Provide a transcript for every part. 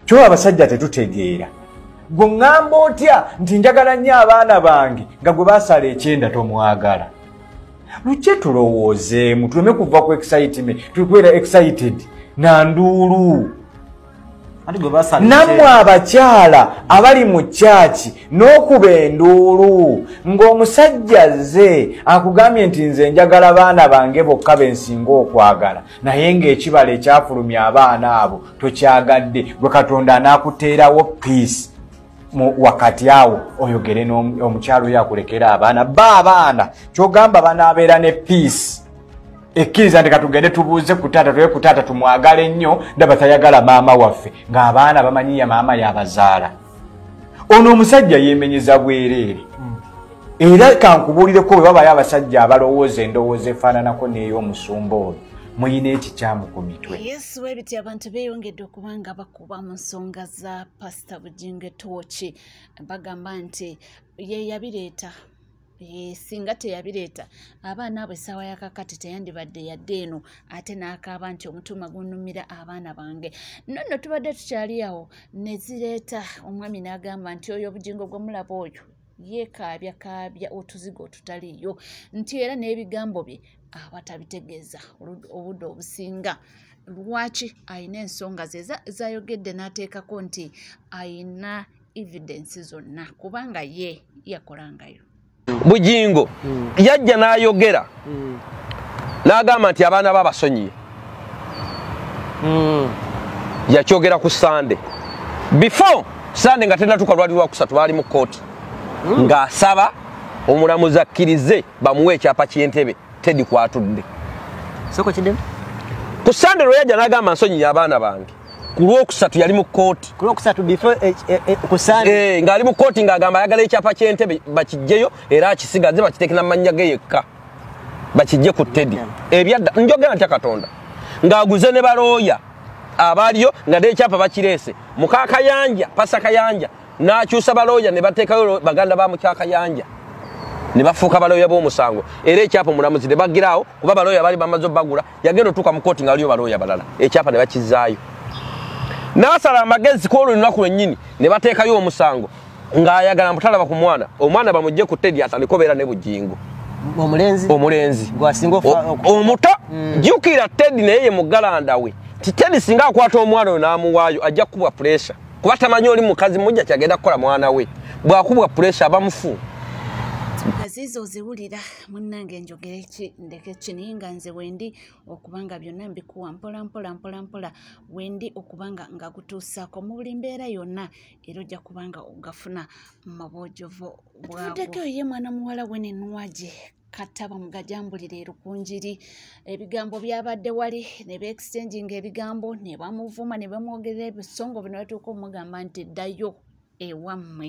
kyoba abasajja tetutegeera gwe ŋŋamba otya nti njagala nnyo abaana bange nga gwe basala ekyenda tomwagala lukye tulowoozeemu tuleme kuva ku exiteme tulikwera excited na nduulu nammwe abakyala abali mu kyaki n'okuba enduulu ng'omusajja zze akugambye nti nze njagala baana bange bokka bensinga okwagala naye ng'ekibala ekyafulumya abaana abo tokyagadde gwe katonda anaakuteerawo piisi wakati awo oyogere omukyalo oyo akulekera abaana ba abaana kyogamba banaabeera ne piisi ekkiriza nti katugende tubuuze ku taata tuwe ku taata tumwagale nnyo ndaba tayagala maama waffe ng'abaana bamanyiya maama yabazaala ono omusajja yemenyeza bwereere hmm. era kankubuulireko bwe babayo abasajja abalowooza endowooza efaananako n'ey'omusumba oyo muyina ekikyamu ku mitwe yesu webiti abantu beyongedde okuba nga bakuba mu nsonga za pasita bujingo etooki bagamba nti yeyabireeta Eh, singa teyabireeta abaana abo essaawa yakakati teyandibadde yadde eno ate n'akaaba nti omutuuma gunumira abaana bange no nno tubadde tukyali awo ne zireeta omwami n'agamba nti oyo obugingo gwe mulaba oyo yeekaabya kaabya otuzigo otutaliiyo nti era n'ebigambo bye aba tabitegeeza obudde obusinga lwaki alina ensonga ze zayogedde n'ateekako nti alina evidence zonna kubanga ye yakolangayo bujingo hmm. yajja n'ayogera hmm. n'agamba nti abaana be abasonyiye hmm. yakyogera ku sande before sande nga tenatuka lwali lwakusatu baali mu kooti ng'asaba omulamuzi akkirize bamuwe ekyapa ky'entebe tedi kwatudde ku sande lwe yajja n'agamba nsonyiye abaana bange ku lwokusatu yali mu kkooti eh, eh, eh, ng'ali mu kkooti ng'agamba ayagala ekyapa ky'entebe bakijjeyo era akisigaze bakitekera mannya ge yekka bakijje ku tedi ebyadda njogera ntya katonda ng'aguze ne balooya abaaliyo nga n'ekyapa bakireese mukakayanja pasa kayanja n'akyusa balooya ne bateekayo baganda ba mukyakayanja ne bafuuka balooya b'omusango era ekyapa omulamuzi ne bagiraawo kuba balooya baali bamaze obagula yagenda otuuka mu kooti nga waliyo balooya balala ekyapa ne bakizaayo n'asala amagezi ku olwo lunaku lwennyini ne bateekayo omusango ng'ayagala mutalaba ku mwana omwana bamugje ku tedi atandika obeera ne bujingo omulenzi omulenzi omuto mm. jukira tedi naye ye mugalanda we ti tedi singa akwata omwana oyo n'amuwaayo ajja kukubwa puresha kuba tamanyi oli mukazi mujja kyagenda kukola mwana we bwakubwa puresha abamufu munnange njogere ki ndeke kini nga nze wendi okubanga byonna mbikuwa mpola mpola mpola mpola wendi okubanga nga gutuusaako mu buli mbeera yonna era ojja kubanga ogafuna mu bwojovu bwatudeko oye mwana muwala we nenwaje kata bamugajambulira erukunjiri ebigambo byabadde wali ne beexchanginga ebigambo ne bamuvuma ne bamwogerera ebisongo bino batuuka omugamba nti ddayo ewammwe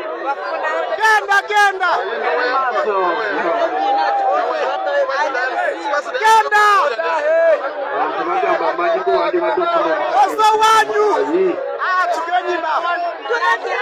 Genda genda. Genda. Oso wanyu. Ah, tugenyi na. Oso wanyu.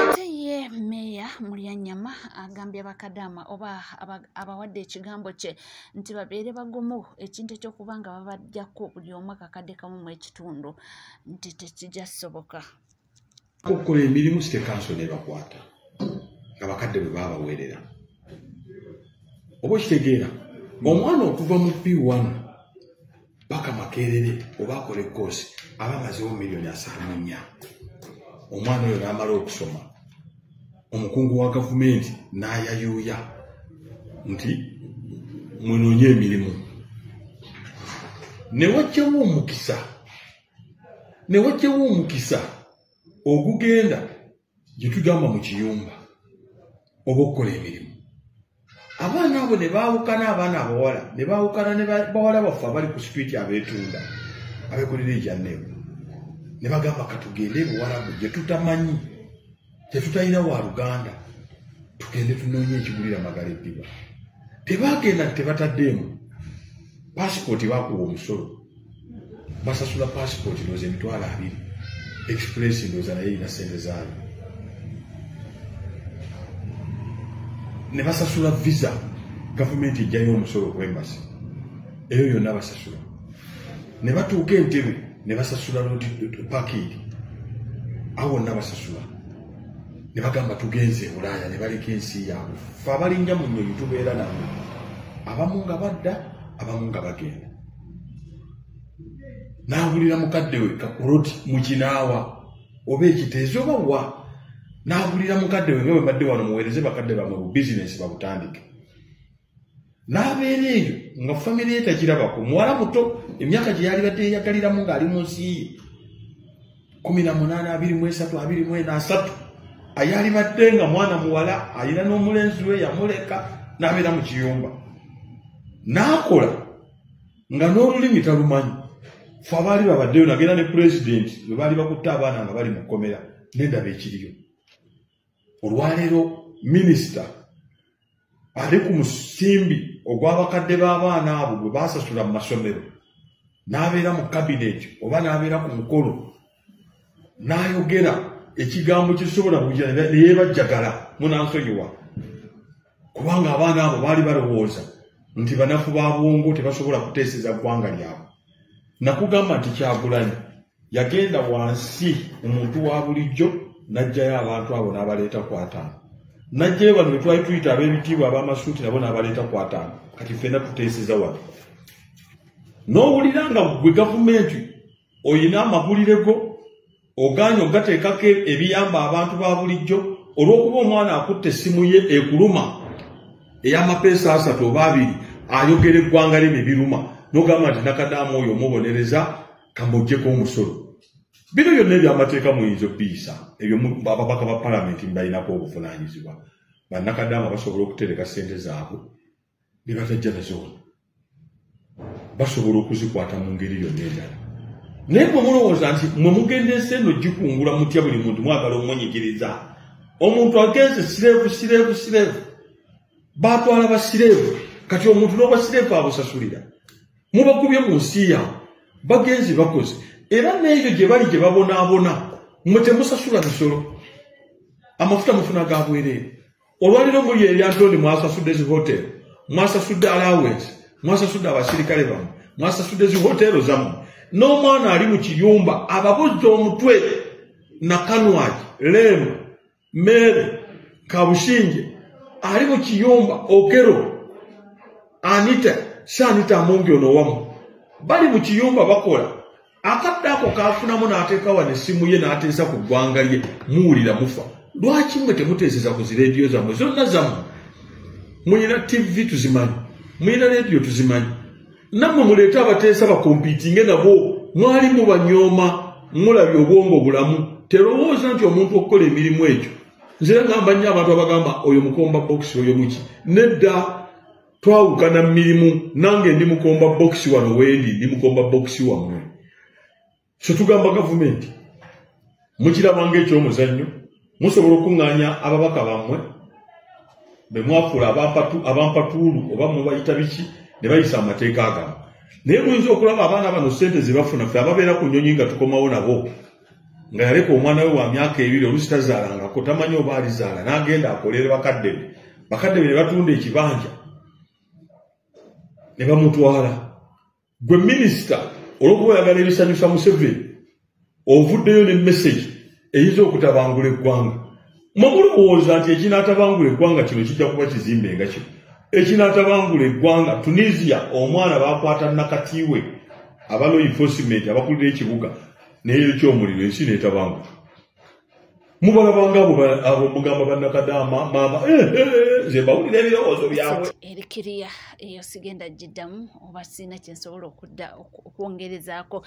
ate ye meeya mulyanyama agambye bakadaama oba abawadde ekigambo kye nti babeere bagumu ekintu ekyokuba nga babajjako buli omu akakadde kamu mu ekitundu nti tekijja soboka okukola emirimu sitekanso nebakwata nga bakadde bwe babaweerera oba okitegeera omwana okuva mu p1 paka makerere oba akola ekoosi aba amazewo miliyoni asaanu nnya omwana oyo n'amala okusoma omukungu wa gavumenti n'ayayuuya nti munoonye emirimu ne wajjamu omukisa ne wajjawo omukisa ogugenda gye tugamba mu kiyumba oba okukola emirimu abaana abo ne baawukana abaana abawala ne baawukana ne bawala baffe abali ku situiti abeetunda abeekolera ejanneebu ne bagamba katugende ebiwalabu gye tutamanyi tetutalina wa luganda tugende tunoonye ekigulira magala eddiba tebagenda tebataddeemu pasipooti bakuwa omusolo basasula pasipooti ndooza emitwalo abiri express ndooza naye erina sente zaayo ne basasula visa gavumenti ejjayo omusolo ku embasi eyo yonna basasula ne batuuka entebe ne basasula lodi pakiiri awo wonna basasula ne bagamba tugenze ebulaaya ne baleka ensi yaabwe fe abalinja mu nyonyi tubeera nabo abamu nga badda abamu nga bagenda n'awulira mukadde we kakuloti mu kinaawa oba ekiteezi oba wa n'awulira mukadde we nga bwe badde wano muweereze bakadde bamwe bu bizinensi babutandike n'abeera eyo nga famire ye tagirabako muwala muto emyaka gye yalibadde yeyagaliramu ng'ali mu nsi ye kumi na munaana abiri mu esatu abiri mu ena asatu ayalibadde nga mwana muwala alina n'omulenzi we yamuleka n'abeera mu kiyumba n'akola nga n'olulimi talumanyi fe abaali babaddeyo nagenda ne pulezidenti bwe baali bakutte abaana nga bali mu kkomera nendaba ekiriyo olwaleero minisita ali ku musimbi ogw'abakadde b'abaana abo gwe baasasula mu masomero n'abeera mu kabineeti oba n'abeera ku mukolo n'ayogera ekigambo kisobola buja neyebajjagala munansonyiwa kubanga abaana abo baali balowooza nti banafu ba bwongo tebasobola kuteeseza ggwanga lyabwe nakugamba nti kyagulanyi yagenda wansi omuntu wa bulijjo n'ajjayo abantu abo n'abaleeta ku ataano n'ajjayo bano be twali tuyita ab'ebitiibwa ab'amasuuti nabo n'abaleeta ku ataano kati ffenna tuteeseza wano n'owulira nga gwe gavumenti olina amagulire go ogaanye ogateekako ebiyamba abantu ba bulijjo olw'okuba omwana akutte essimu ye ekuluma ey'amapeesa asatu oba abiri ayogera eggwanga lye ne biruma n'ogamba nti nakadaamu oyo omubonereza kambogyeko omusolo bino byonna ebyamateeka muyinza okubiyisa ebyo ababaka ba palamenti mubalinako obuvunanyizibwa bannakadaama basobola okutereka sente zaabwe bebatajja nazoona basobola okuzikwata mu ngeri yonna endala naye mwe mulowooza nti mwe mugenda ensi eno gikungula mutya buli muntu mwagala omunyigiriza omuntu agenze sireevu sireevu sireevu batwala basireevu kati omuntu n'obasireevu abusasulira mubakubye mu nsi yawe bagenzi bakoze era n'ebyo gye bali gye babonaabona mwe temusasula misolo amafuta mufuna ga bwereere olwaliro muli eryantonde mwasasudde zi hotero mwasasudde alawensi mwasasudde abasirikale bamu mwasasudde zi hotero zamu n'omwana ali mu kiyumba ababuzza omutwe nakanwaki leema meere kabushinje ali mu kiyumba okero anita shanita amungi ono wamu bali mu kiyumba bakola akadde ako kafunamu n'ateeka wano essimu ye n'ateesa ku ggwanga lye muwulira mufa lwaki mwe temuteeseza ku zi rediyo zammwe zonna zammwe mulina tivi tuzimanyi mulina rediyo tuzimanyi nammwe muleete abateesa bakompitinge nabo mwali mubanyooma mulabye obwongo bulamu terowooza nti omuntu okukola emirimu egyo nzira ngamba nnyo abantu abagamba oyo mukomba bokisi oyo muki nedda twawukana mu mirimu nange ndi mukomba bokisi wano wendi ndi mukomba bokisi wammwe ffe tugamba gavumenti mukiraba ngaekyomuzannyo musobola okuŋŋaanya ababaka bammwe be mwafuula abampatuulu oba mubayita biki ne bayisa amateeka agamu naye muyinza okulaba abaana bano ssente ze bafuna ffe ababeera ku nnyonyi nga tukomawo nabo nga yaleka omwana we wa myaka ebiri olusi tazaalangako tamanyi oba alizaala n'agenda akolere bakadde be bakadde be ne batunda ekibanja ne bamutwala gwe minisita olwokuba oyagala ebisanyusa museveni ovuddeyo ne mesegi eyinza okutabangula eggwanga mwemulowooza nti ekinatabangula eggwanga kino kijja kuba kizimbe nga kino ekinatabangula eggwanga tunisia omwana bakwata nakatiwe abaloinfosiment abakulira ekibuga neyo kyomuliro ensi netabangula mubalabanga abo mugamba banakadaama maama eh, eh, eh, nze bawulira ebirowoozo byabwe erikiriya eyo sigenda giddamu oba sirina kyensobola okudda okwongerezaako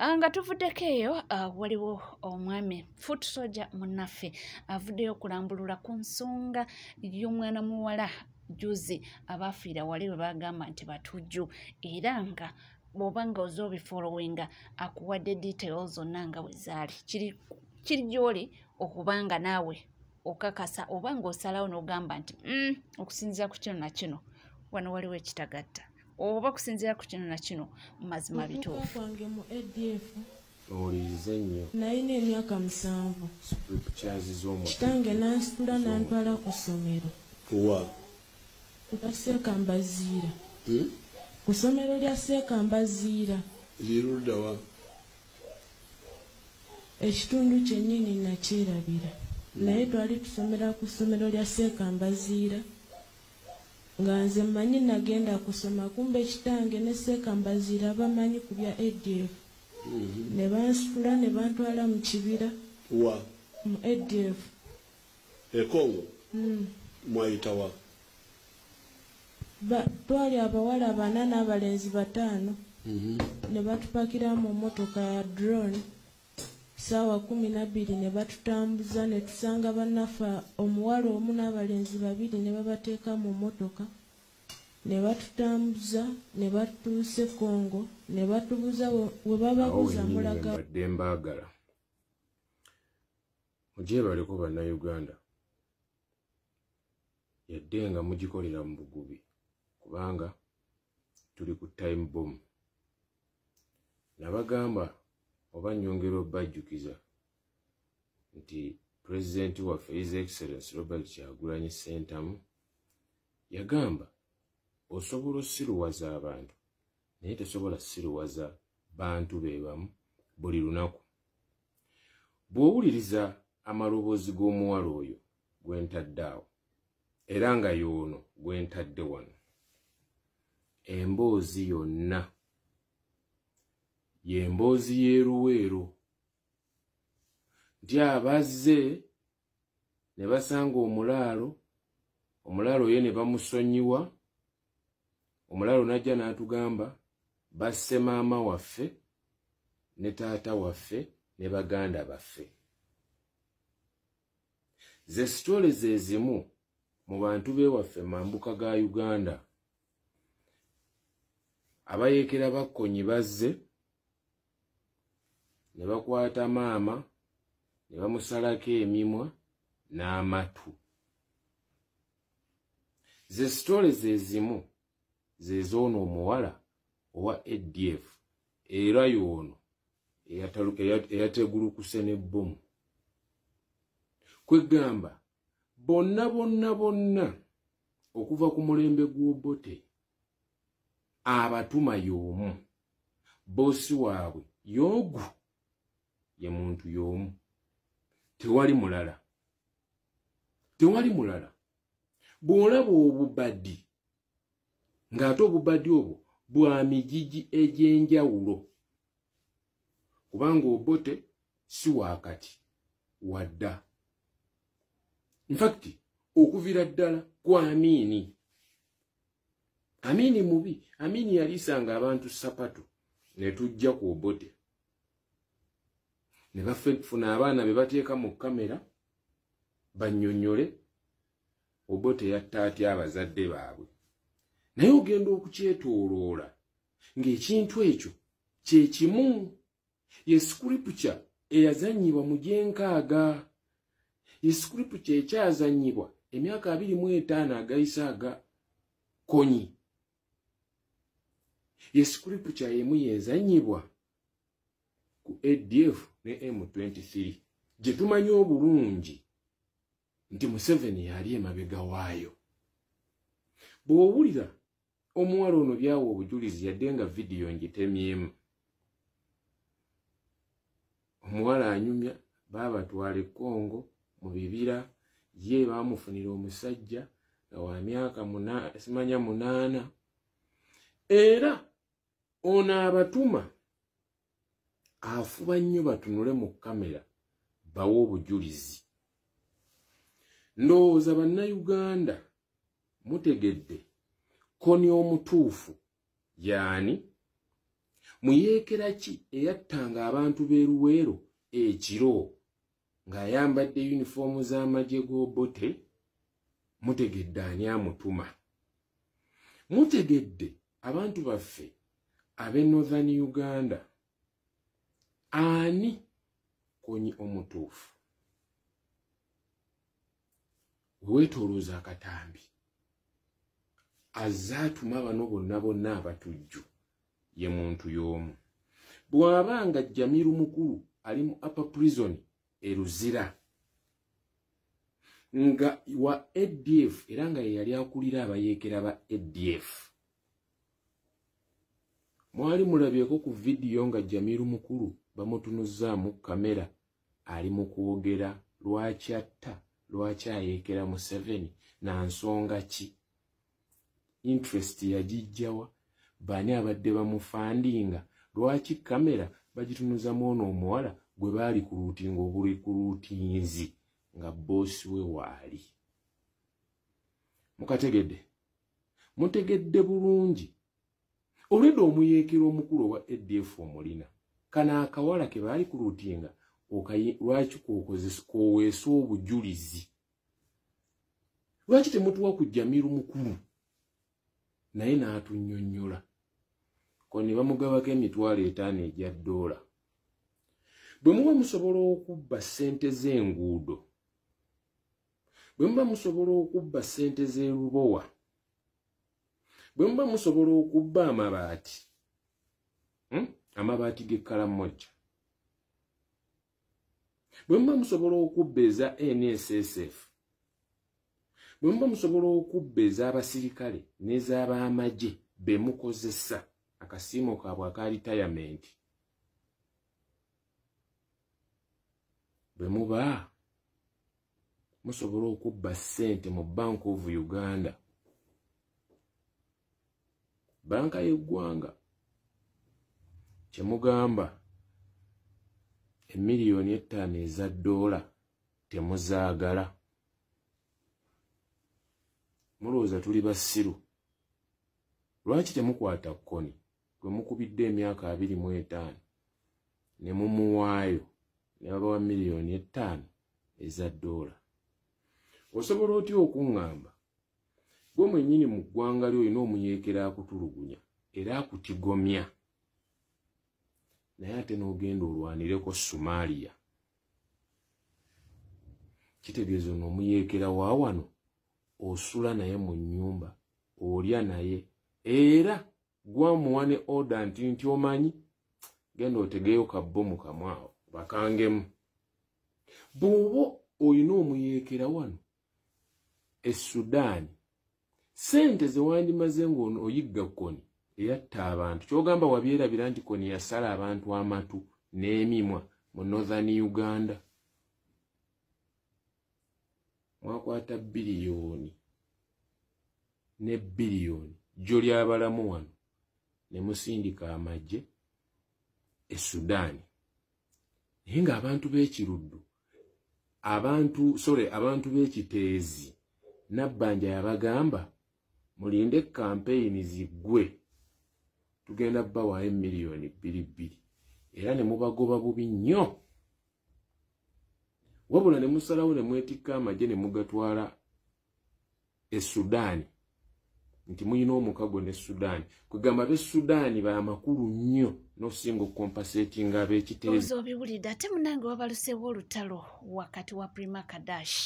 ah, nga tuvuddeko eyo ah, waliwo omwami foot soja munaffe avuddeyo okulambulula ku nsonga y'omwana muwala juzi abaafiira wali bwe bagamba nti batujju era nga bwoba nga oza obifolowinga akuwadde detail zonna nga wezaali kiri gyoli okuba nga naawe okakasa oba nga osalawo n'ogamba nti mm, okusinzira ku kino nakino wano waliwo ekitagatta oba okusinzira ku kino nakino mazima bituufu owulirize nnyo nalina emyaka musanvu kitange nansitula nantwala ku ssomero wa kuseeka mbaziira hmm? ku ssomero lya seeka mbaziira liruddawa ekitundu kyennyini nakyerabira hmm. naye twali tusomera ku ssomero lya seeka mbaziira nga nze mmanyi nagenda kusoma kumba ekitange ne seeka mbaziira bamanyi ku bya adf mm-hmm. ne bansitula ne bantwala mu kibira wa mu adf ekongo mm. mwayitawa twali abawala bana n'abalenzi bataano mm-hmm. ne batupakira mu motoka ya drone saawa kumi nabbiri ne batutambuza ne tusanga bannaffe omuwala omu n'abalenzi babiri ne babateeka mu motoka ne batutambuza ne batuusa e Congo ne batubuza we bababuza mulaga badde mbaagala mugyebaleko bannayuganda yadde nga mugikolera mu bugubi kubanga tuli ku time bom nabagamba oba nyongera obajjukiza nti pulezidenti waffe his excellence robert kyagulanyi sentamu Yagamba, Osobola osiruwaza abantu, naye tesobola siruwaza bantu be bamu buli lunaku. Bw'owuliriza amaloboozi g'omuwala oyo gwe ntadde awo, era nga y'ono gwe ntadde wano, emboozi yonna y'emboozi y'eruweero nti abazze ne basanga omulaalo omulaalo ye ne bamusonyiwa omulaalo n'ajja n'atugamba basse maama waffe ne taata waffe ne baganda baffe ze sitole ze zimu mu bantu bewaffe mambuka ga uganda abayeekera bakkonyi bazze ne bakwata maama ne bamusalako emimwa n'amatu ze sitole ze zimu ze zoono omuwala owa adf era yoono eyategulukuse n'ebbomu kwegamba bonna bonna bonna okuva ku mulembe gw'obote abatuma y'omu boosi waabwe y'ogu ye muntu y'omu tewali mulala tewali mulala bw'olaba obubadi ng'ate obubadi obwo bwa migigi egy'enjawulo kubanga obote si wakati wadda infakti okuviira ddala ku amiini amini mubi amini yalisanga abantu sapatu netujja ku obote ne bafuna abaana be bateeka mu kamera banyonyole obote yatta atya abazadde baabwe naye ogenda okukyetooloola ng'ekintu ekyo kye kimu ye sikuripukya eyazanyibwa mu gyenkaaga ye sikuripukya ekyazanyibwa emyaka abiri mu etaano agayise aga konyi ye sikuripukya yemu yezanyibwa ku adf ne m23 gye tumanyi obulungi nti museveni yali emabega waayo bw'owulira omuwala ono byawa obujulizi yadde nga vidiyo ngitemyemu omuwala anyumya baabatwala ekongo mu bibira ye baamufunira omusajja nga wa myaka simanya munaana era ono abatuma afuba nnyo batunule mu kamera bawe obujulizi ndowooza bannayuganda mutegedde koni omutuufu yaani muyeekera ki eyattanga abantu b'eruweero ekiro ng'ayambadde yunifoomu z'amagye g'obote mutegedde ani amutuma mutegedde abantu baffe abe northern uganda ani konyi omutuufu weweetolooza akatambi azze atuma bano bonna bonna abatujju ye muntu y'omu bw'aba nga jamiru mukulu ali mu upper prison e luzira nga wa adf era nga yeyali akulira abayeekera ba adf mwali mulabyeko ku vidiyo nga jamiru mukulu bamutunuzzaamu kamera ali mu kwogera lwaki atta lwaki ayeekera museveni na nsonga ki interest yagijjawa bani abadde bamufandinga lwaki kamera bagitunuza mwono omuwala gwe baali ku luutinga obuli ku luutinzi nga boosi we waali mukategedde mutegedde bulungi olwedda omuyeekera omukulu owa adf omulina kana akawala ke baali ku luutinga lwaki kwokozesa kwoweesa obujulizi lwaki temutuwa ku jamiru mukulu naye n'atunyonyola ko ne bamugabako emitwalo etaano egya doola bwe muba musobola okubba ssente z'enguudo bwe muba musobola okubba ssente z'erubowa bwe muba musobola okubba amabaati hmm? amabaati g'ekkalamojja bwe muba musobola okubba eza nssf bwe muba musobola okubba ez'abasirikale n'ez'abaamagye be mukozesa akasiimo kaabwe aka ritayamenti bwe muba musobola okubba ssente mu bank of uganda banka y'eggwanga kyemugamba emiliyoni ettaano eza doola temuzaagala mulowooza tuli basiru lwaki temukwata kkoni gwe mukubidde emyaka abiri mu etaano ne mumuwaayo ne babawa miliyoni ettaano eza doola osobola otya okuŋŋamba gwe mwenyini mu ggwanga lyo olina omuyeekera akutulugunya era akutigomya naye ate n'ogenda olwanireko somalia kitegeeza ono omuyeekera wa wano osula naye mu nnyumba olya naye era gwamuwa ne oda nti nti omanyi genda otegeeyo kabbo mu kamwawo bakangemu bw'oba olina omuyeekera wano e sudan sente zewandimaze ngaono oyigga koni eyatta abantu kyogamba wabyerabira nti koni yasala abantu amatu n'emimwa mu northern uganda mwakwata biliyoni ne biliyoni jjo lyabalamu wano ne musindika amagye e sudaani naye ng'abantu b'ekiruddu abantu sore abantu b'ekiteezi nabbanja yabagamba mulinde kampeyini ziggwe tugenda bawaayo emiliyoni bbiri bbiri era ne mubagoba bubi nnyo wabula ne musalawo ne mwetikka amagye ne mugatwala e sudaani nti mulina omukago ne sudaani kwegamba be sudaani bamakulu nnyo nosinga okukompasetinga abekiteezo obiwulidde ate munange wabaluseewo olutalo wakati wa prima kadash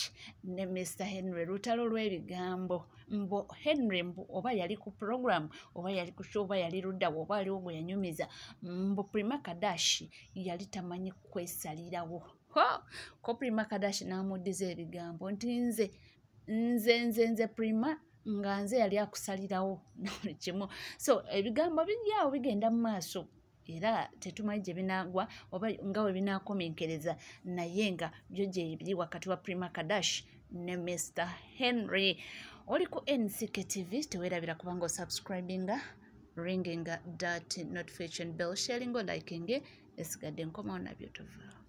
ne mr henry lutalo lw'ebigambo mbu henry mbu oba yali ku program oba yali ku oba yali luddawo oba aliwo gwe yanyumiza mbu prima kadash yali tamanyi kwesalirawo ko prima kadashi n'amuddiza ebigambo nti nze nze nze nze prima nga nze yali akusalirawo nabuli kimu so ebigambo biryawo bigenda mu maaso era tetumanyi gye binaagwa oba nga we binaakomenkereza naye nga byo gyebiri wakati wa prima kadash ne mr henry oli ku nck tv tewerabira kubanga osubscribinga ringinga dat notification bell sharingo likinge esigadde nkomawo nabyo tuvaawo